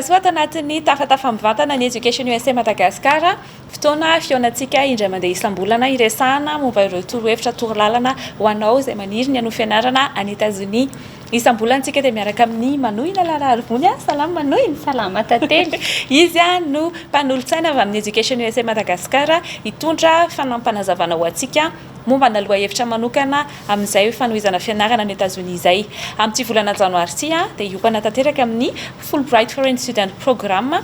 soa ato anatin'ny tafatafa mivantana ny Education USA Madagascar. Fotoana fihaonantsika indray mandeha isam-bolana iresahana momba ireo torohevitra torolalana ho anao izay maniry ny hanao fianarana any Etazonia. Isam-bolana tsika dia miaraka amin'ny Manohina Lalarivony a! Salama Manohina! Salama Tantely! Izy no mpanolotsaina avy amin'ny Education usa Madagascar hitondra fanampanazavanao ho antsika momba ana lohahevitra manokana amin'izay fanohizana fianarana any Etazonia izay. Amin'ity volana Janoary ity dia hiompana tanteraka amin'ny Fulbright Foreign Student Programme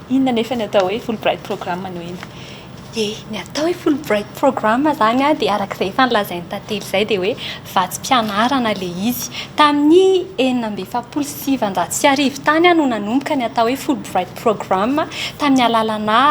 Inona anefa ny atao hoe Fulbright Program no hino? Dia ny atao hoe Fulbright Program izany dia araka izay efa nolazain'i Tantely izay dia hoe vatsim-pianarana ilay izy. Tamin'ny enina amby efapolo sy sivanjato sy arivo tany no nanomboka ny atao hoe Fulbright Program tamin'ny alalana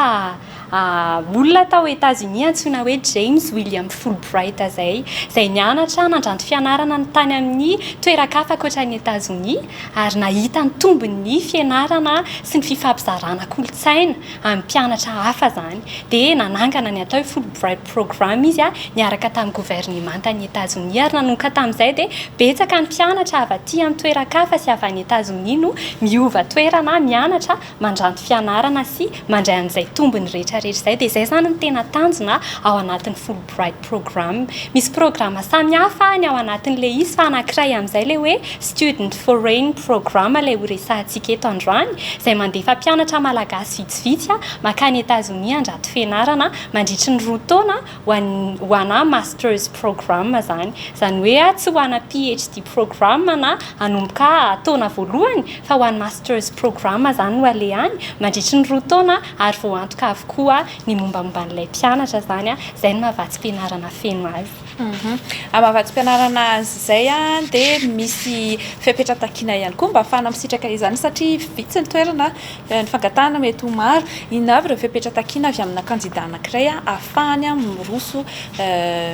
olona tao Etazonia antsoina hoe James William Fulbright izay, izay nianatra nandranto fianarana tany amin'ny toeran-kafa ankoatra an'i Etazonia. ary nahita ny tombony ny fianarana sy ny fifampizarana kolontsaina amin'ny mpianatra hafa izany dia nanangana ny atao hoe Fulbright Program izy niaraka tamin'ny governemantan'i Etazonia ary nanomboka tamin'izay dia betsaka ny mpianatra avy aty an-toeran-kafa sy avy any Etazonia no miova toerana mianatra mandranto fianarana sy mandray an'izay tombony rehetrarehetra izay, dia izay izany no tena tanjona ao anatin'ny Fulbright Program. Misy programa samihafa ny ao anatin'ilay izy fa anankiray amin'izay ilay hoe Student Foreign Program ilay ho resahantsika eto androany, izay mandefa mpianatra malagasy vitsivitsy mankany Etazonia handrato fianarana mandritry ny roa taona ho anà Master's Programme izany. Izany hoe tsy ho anà PHD Programme na hanomboka taona voalohany fa ho an'ny Master's Programme izany no alehany mandritry ny roa taona ary voantoka avokoa ny mombamomba an'ilay mpianatra izany. Izay no maha-vatsim-pianarana feno azy. Amin'ny maha-vatsim-pianarana azy izay dia misy fepetra takiana ihany koa mba hahafahana misitraka izany satria vitsy ny toerana. Ny fangatahana mety ho maro, inona avy ireo fepetra takiana avy amina kandida anankiray hahafahany miroso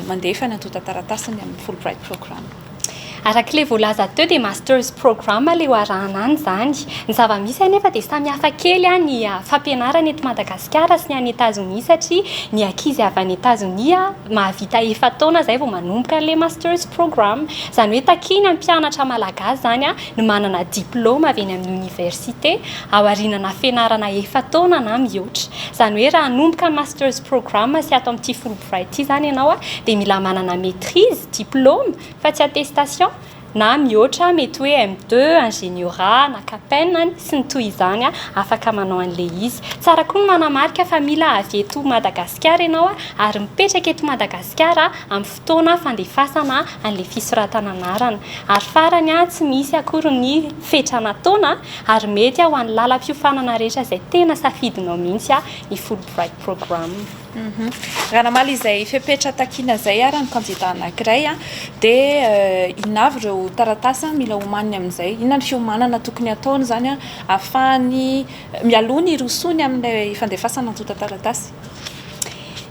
mandefa ny antontan-taratasiny amin'ny Fulbright Program? Araka ilay voalaza teo dia Master's Program ilay ho arahana an' izany. Ny zava-misy anefa dia samy hafa kely ny fampianarana eto Madagasikara sy ny any Etazonia satria ny ankizy avy any Etazonia mahavita efa-taona izay vao manomboka an'ilay Master's Program. Izany hoe takiany hampianatra Malagasy izany no manana diplaoma avy eny amin'ny oniversite, aoriana na fianarana efa-taona na mihoatra. Izany hoe raha hanomboka ny Master's Programme sy ato amin'ity Fulbright ity izany ianao dia mila manana maîtrise, diplaoma, fa tsy attestation, na mihoatra, mety hoe M2, Ingeniora, na Capen any, sy ny toy izany, afaka manao an'ilay izy. Tsara koa ny manamarika fa mila avy eto Madagasikara ianao ary mipetraka eto Madagasikara amin'ny. fotoana fandefasana an'ilay fisoratana anarana, ary farany tsy misy akory ny fetra nataona ary mety ho an'ny lalam-piofanana rehetra izay tena safidinao mihitsy ny Fulbright Program. Raha namaly izay fepetra takiana izay ary ny kandida anankiray dia inona avy ireo taratasy mila omaniny amin'izay? Inona ny fiomanana tokony hataony izany ahafahany mialoha ny hirosoany amin'ilay fandefasana antontan-taratasy?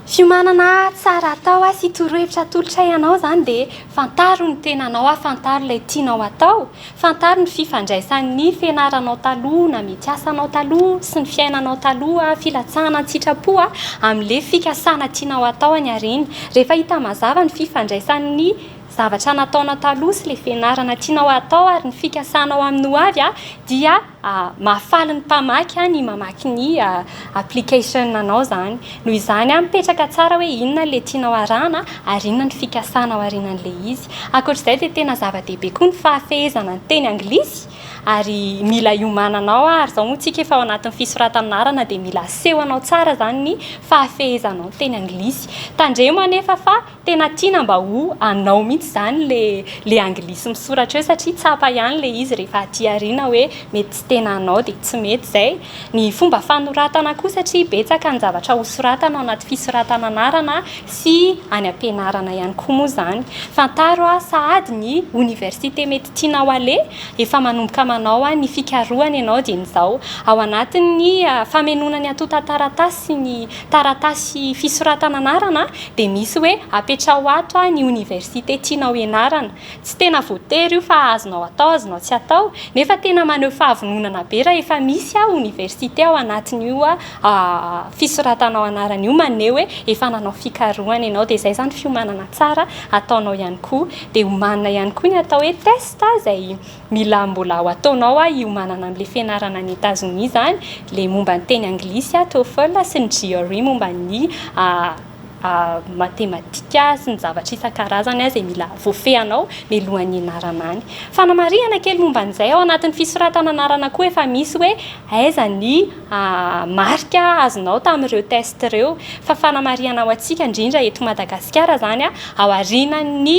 Fiomanana tsara atao sy torohevitra atolotray anao izany dia fantaro ny tenanao, fantaro ilay tianao atao, fantaro ny fifandraisan'ny fianaranao taloha na mety asanao taloha sy ny fiainanao taloha, filatsahana an-tsitrapo amin'ilay fikasana tianao atao any aoriana. Rehefa hita mazava ny fifandraisan'ny zavatra nataonao taloha sy ilay fianarana tianao atao ary ny fikasanao amin'ny hoavy dia Mahafaly ny mpamaky ny mamaky ny application anao zany. Noho izany mipetraka tsara hoe inona ilay tianao arahana ary inona ny fikasana ao aorianan'ilay izy. Ankoatr'izay dia tena zava-dehibe koa ny fahafehezana ny teny anglisy ary mila iomananao ary izao moa tsika efa ao anatin'ny fisoratan'anarana dia mila asehonao tsara zany ny fahafehezanao ny teny anglisy. Tandremo anefa fa Tena tiana mba ho anao mihitsy izany ilay anglisy misoratra eo satria tsapa ihany ilay izy rehefa aty aoriana hoe mety tsy tena anao dia tsy mety izay. Ny fomba fanoratana koa satria betsaka ny zavatra hosoratana ao anaty fisoratana anarana sy any am-pianarana ihany koa moa izany. Fantaro sahady ny oniversite mety tianao haleha, efa manomboka manao ny fikarohana ianao dieny izao ao anatin'ny famenoana ny antontan-taratasy sy ny Taratasy fisoratana anarana dia misy hoe apetraho ato ny oniversite tianao hianarana. Tsy tena voatery io fa azonao atao azonao tsy atao nefa tena maneho fahavononana be raha efa misy oniversite ao anatin'io fisoratanao anarana io maneho hoe efa nanao fikarohana ianao dia izay izany fiomanana tsara ataonao ihany koa. Dia omanina ihany koa ny atao hoe test izay Mila mbola ho ataonao a io manana an'le fianarana any Etazonia zany le momba ny teny anglisy a TOEFL sy ny GRE momba ny matematika sy ny zavatra isan-karazany a zay mila voafehanao mialohan'ny hianarana any. Fanamarihana kely momba an'izay, ao anatin'ny fisoratana anarana koa efa misy hoe aiza ny marika azonao tamin'ireo test ireo. Fa fanamarihana ho antsika indrindra eto Madagasikara zany a, ao aorianan'ny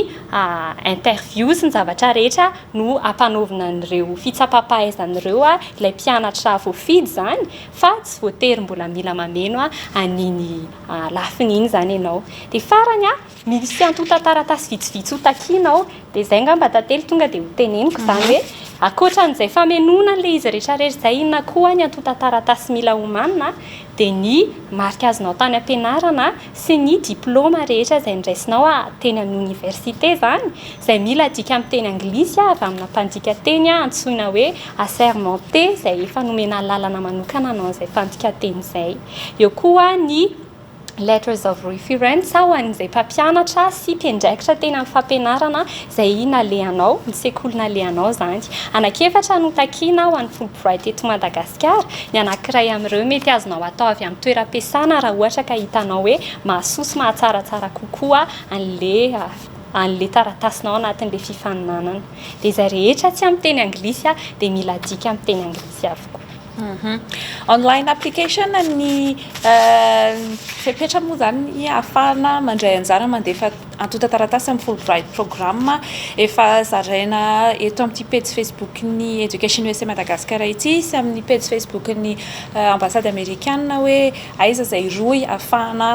interviews ny zavatra rehetra no ampanaovina an'ireo fitsapam-pahaizana ireo ilay mpianatra voafidy izany fa tsy voatery mbola mila mameno an'iny lafiny iny izany ianao. Dia farany, misy antontan-taratasy vitsivitsy ho takiana ao, dia izay angamba tantely tonga dia ho teneniko izany hoe ankoatra an'izay famenoana an'ilay izy rehetra rehetra izay inona koa ny antontan-taratasy mila homanina dia ny marika azonao tany am-pianarana, sy ny diplaoma rehetra izay niraisinao a teny amin'ny oniversite izany izay mila adika amin'ny teny anglisy a avy amina mpandika teny a antsoina hoe assermenté izay efa nomena alalana manokana hanao an'izay mpandika teny izay eo koa ny letters of reference ho an'izay mpampianatra sy mpiandraikitra teny amin'ny fampianarana izay nalehanao, ny sekoly nalehanao izany. Anankiefatra no takiana ho an'ny Fulbright eto Madagasikara, ny anankiray amin'ireo mety azonao atao avy amin'ny toeram-piasana raha ohatra ka hitanao hoe mahasoa sy mahatsaratsara kokoa an'ilay an'ilay taratasinao anatin'ilay fifaninanana. Dia izay rehetra tsy amin'ny teny anglisy dia mila adika amin'ny teny anglisy avokoa. Online application ny fepetra moa izany ny ahafahana mandray anjara mandefa antontan-taratasy amin'ny Fulbright Programme efa zaraina eto amin'ity pejy Facebook ny Education USA Madagascar ity sy amin'ny pejy Facebook ny Ambassade Amerikana hoe aiza izay rohy ahafahana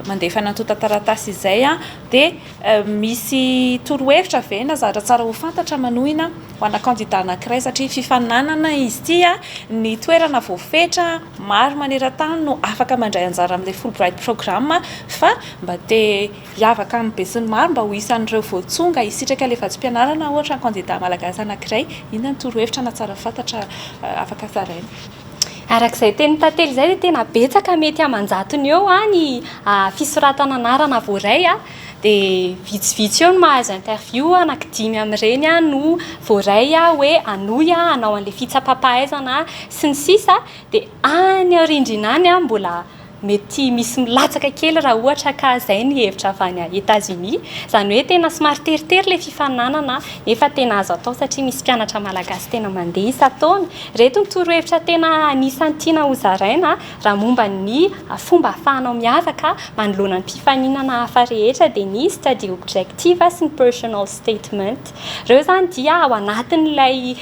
mandefa ny antontan-taratasy izay dia misy torohevitra ve na zavatra tsara ho fantatra manohina ho ana kandida anankiray satria fifaninanana izy ity, ny toerana voafetra maro maneran-tany no afaka mandray anjara amin'ilay Fulbright Program fa mba te hiavaka amin'ny besinimaro mba ho isan'ireo voatsonga hisitraka ilay vatsim-pianarana ohatra ny kandida malagasy anankiray, inona no torohevitra na tsara fantatra afaka zaraina? Araka izay tenin'i Tantely izay dia tena betsaka mety aman-jatony eo ny fisoratana anarana voaray. dia vitsivitsy eo no mahazo interview, anaky dimy amin'ireny no voaray hoe hanohy hanao an'ilay fitsapam-pahaizana sy ny sisa Dia any aorindrina any mbola mety misy milatsaka kely raha ohatra ka izay ny hevitra avy any Etazonia, izany hoe tena somary teritery ilay fifaninanana nefa tena azo atao satria misy mpianatra malagasy tena mandeha isan-taona, ireto ny torohevitra tena anisan'ny tiana hozaraina. Raha momba ny fomba ahafahanao miavaka manoloana ny mpifaninana hafa rehetra dia misy tadidio objective sy ny personal statement. Ireo izany dia ao anatin'ilay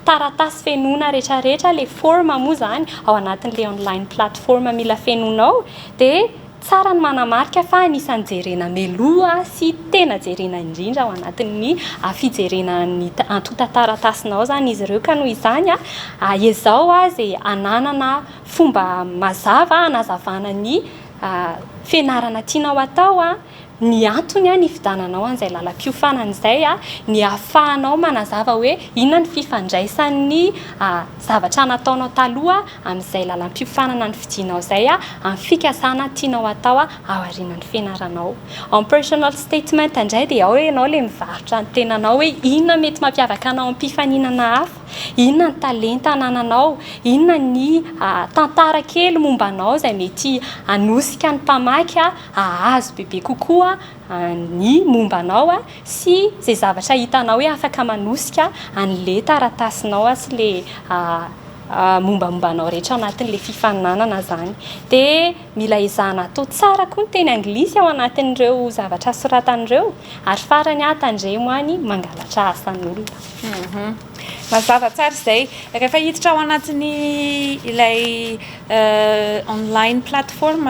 taratasy fenoina rehetrarehetra, ilay forme moa izany ao anatin'ilay online platform mila fenoinao dia. Tsara ny manamarika fa anisan'ny jerena mialoha sy tena jerena indrindra ao anatin'ny fijerena ny antontan-taratasinao izany izy ireo, ka noho izany ezao izay hananana fomba mazava hanazavana ny fianarana tianao hatao. Ny antony nifidananao an'izay lalam-piofanana izay ny ahafahanao manazava hoe inona ny fifandraisan'ny zavatra nataonao taloha amin'izay lalam-piofanana nifidinao izay amin'ny fikasana tianao hatao ao aorianan'ny fianaranao. Ao amin'ny personal statement indray dia ao ianao ilay mivarotra ny tenanao hoe inona no mety mampiavaka anao amin'ny mpifaninana hafa, inona ny talenta anananao, inona ny tantara kely momba anao izay mety hanosika ny mpamaky. Hahazo bebe kokoa ny momba anao sy izay zavatra hitanao hoe afaka manosika an'ilay taratasinao sy ilay mombamomba anao rehetra anatin'ilay fifaninanana izany. Dia mila ezahana atao tsara koa ny teny anglisy ao anatin'ireo zavatra soratana ireo. Ary farany, tandremo any mangalatra asan'olona. Mazava tsara izay. Rehefa hiditra ao anatin'ny ilay online platform.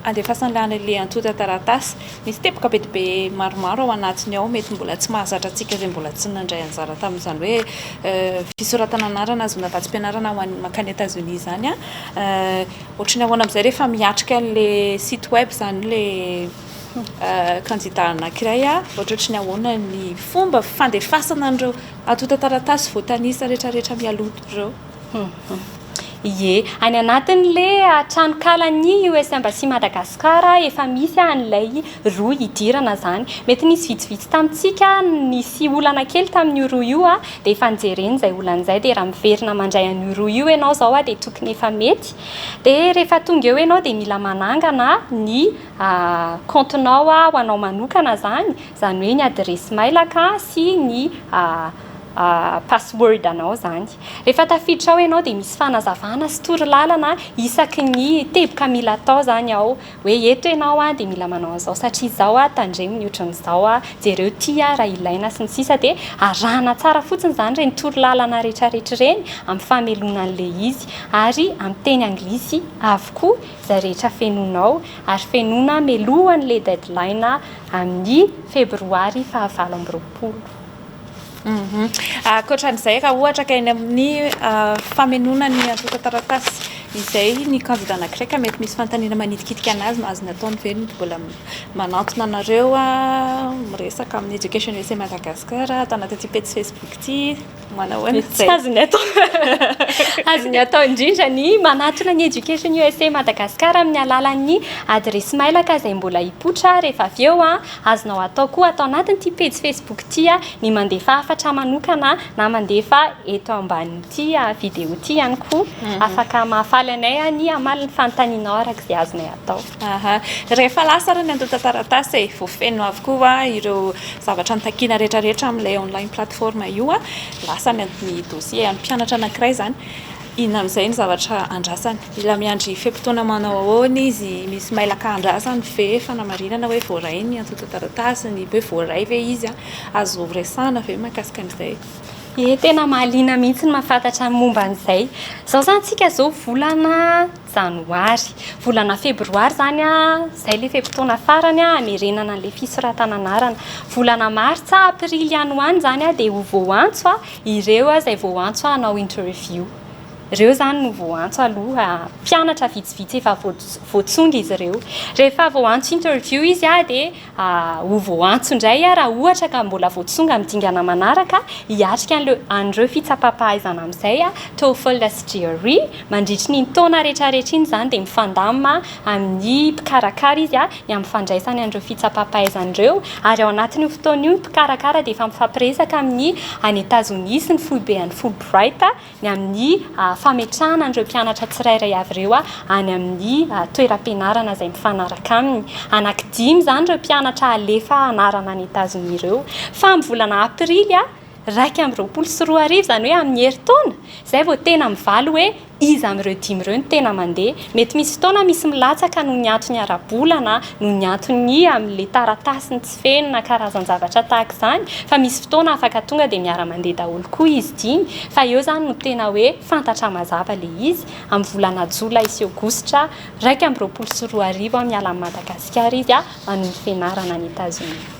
Andefasany lany le antontan-taratasy. Misy teboka be dia be maromaro ao anatiny ao, mety mbola tsy mahazatra antsika izay mbola tsy nandray anjara tamin'izany hoe fisoratana anarana azona vatsim-pianarana ho an'ny mankany Etazonia izany an! Ohatry ny ahoana amin'izay rehefa miatrika an'ilay site web izany ilay kandida anankiray an! Ohatrohatry ny ahoana ny fomba fandefasana an'ireo antontan-taratasy voatanisa rehetrarehetra mialoha ireo? Ie, any anatin'le tranonkalan'ny US Embassy Madagascar efa misy an'ilay rohy hidirana zany. Mety nisy vitsivitsy tamintsika nisy olana kely tamin'io rohy io dia efa nijereny izay olana izay dia raha miverina mandray an'io rohy io ianao izao dia tokony efa mety. Dia rehefa tonga eo ianao dia mila manangana ny kaontinao ho anao manokana zany, izany hoe ny adiresy mailaka sy ny password anao zany. Rehefa tafiditra ao ianao dia misy fanazavana sy torolalana isaky ny teboka mila atao zany ao hoe eto ianao a dia mila manao an'izao satria izao a, tandremo ny ohatran'izao a, jereo ity a raha ilaina sy ny sisa dia arahana tsara fotsiny izany ireny torolalana rehetrarehetra ireny amin'ny famelona an'ilay izy ary amin'ny teny anglisy avokoa izay rehetra fenonao ary fenona melohan'ilay deadline amin'ny febroary fahavalo amby roapolo. Ankoatra an'izay, raha ohatra ka eny amin'ny famenoana ny antontan-taratasy izay ny kandida anankiray ka mety misy fanontaniana manitikitika an'azy no azony atao ny hoe mbola manantona anareo miresaka amin'ny Education USA Madagascar ato anatin'ity pejy Facebook ity, manao ahoana izay? Tsy azony atao. Azony atao indrindra ny manatona ny Education USA Madagascar amin'ny alalan'ny adiresy mailaka izay mbola hipoitra rehefa avy eo Azonao atao koa ato anatin'ity pejy Facebook ity ny mandefa hafatra manokana na mandefa eto ambanin'ity video ity ihany koa. Afaka mahafaly anay ny hamaly ny fanontanianao araka izay azonay atao. Aha. Rehefa lasa ary ny antontan-taratasy e, voafeno avokoa ireo zavatra notakiana rehetrarehetra amin'ilay online platform io, lasa ny dossier an'ny mpianatra anankiray izany. Inona amin'izay no zavatra andrasany? Mila miandry fe-potoana manao ahoana izy? Misy mailaka andrasany ve? Fanamarinana hoe voaray ny antontan-taratasiny? Hoe voaray ve izy? Azo resahina ve mahakasika an'izay? Ye, tena mahaliana mihitsy ny mahafantatra ny momba an'izay. Izao izany isika izao volana janoary. Volana febroary izany, izay ilay fe-potoana farany hamerenana an'ilay fisoratana anarana. Volana martsa, aprily any ho any izany dia ho voantso. Ireo aza izay vao antso hanao interview. Ireo izany no vao antso aloha. Mpianatra vitsivitsy efa voatsonga izy ireo. Rehefa vao antso interview izy dia ho vao antso indray raha ohatra ka mbola voatsonga amin'ny dingana manaraka hiatrika an'ireo fitsapam-pahaizana amin'izay, TOEFL sy GRE. Mandritry iny taona rehetrarehetra iny izany dia mifandamina amin'ny mpikarakara izy. ny amin'ny fandraisany an'ireo fitsapam-pahaizana ireo, ary ao anatin'io fotoana io ny mpikarakara dia efa mifampiresaka amin'ny any Etazonia sy ny foiben'ny Fulbright ny amin'ny fametrahana an'ireo mpianatra tsirairay avy ireo any amin'ny toeram-pianarana izay mifanaraka aminy. Anaky dimy izany ireo mpianatra halefa hanarana any Etazonia ireo fa amin'ny volana aprily iraika amby roapolo sy roa arivo, izany hoe amin'ny herintaona izay vao tena mivaly hoe Iza amin'ireo dimy ireo no tena mandeha? Mety misy fotoana misy milatsaka noho ny antony ara-bola na noho ny antony amin'ilay taratasy ny tsy feno na karazan-javatra tahaka izany fa misy fotoana afaka tonga dia miara-mandeha daholo koa izy dimy fa eo izany no tena hoe fantatra mazava ilay izy amin'ny volana jolay sy aogositra iraika amby roapolo sy roa arivo miala amin'i Madagasikara izy manome fianarana any Etazonia.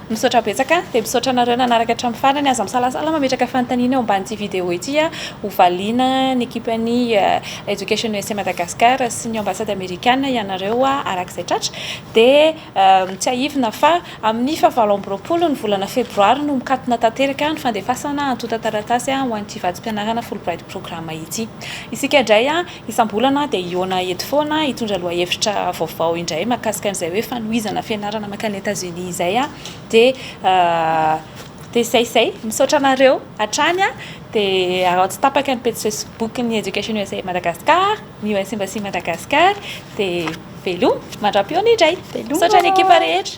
Misaotra betsaka, dia misaotra anareo nanaraka hatramin'ny farany, aza misalasala mametraka fanontaniana eo ambanin'ity vidéo ity a, ho valiana ny ekipan'ny Education USA Madagascar sy ny Ambassade Amerikana ianareo araka izay tratra, dia tsiahivina fa amin'ny faha valo amby roapolo ny volana febroary no mikatona tanteraka ny fandefasana antontan-taratasy ho an'ity vatsim-pianarana Fulbright Program ity, isika indray a. Isam-bolana dia hihaona eto foana hitondra lohahevitra vaovao indray mahakasika an'izay hoe fanohizana fianarana mankany Etats-Unis izay aho dia dia izay izay misaotra anareo hatrany dia araho tsy tapaka ny pejy Facebook ny Education usa Madagascar ny US Embassy Madagascar dia veloma mandram-pihaona indray misaotra ny ekipa rehetra.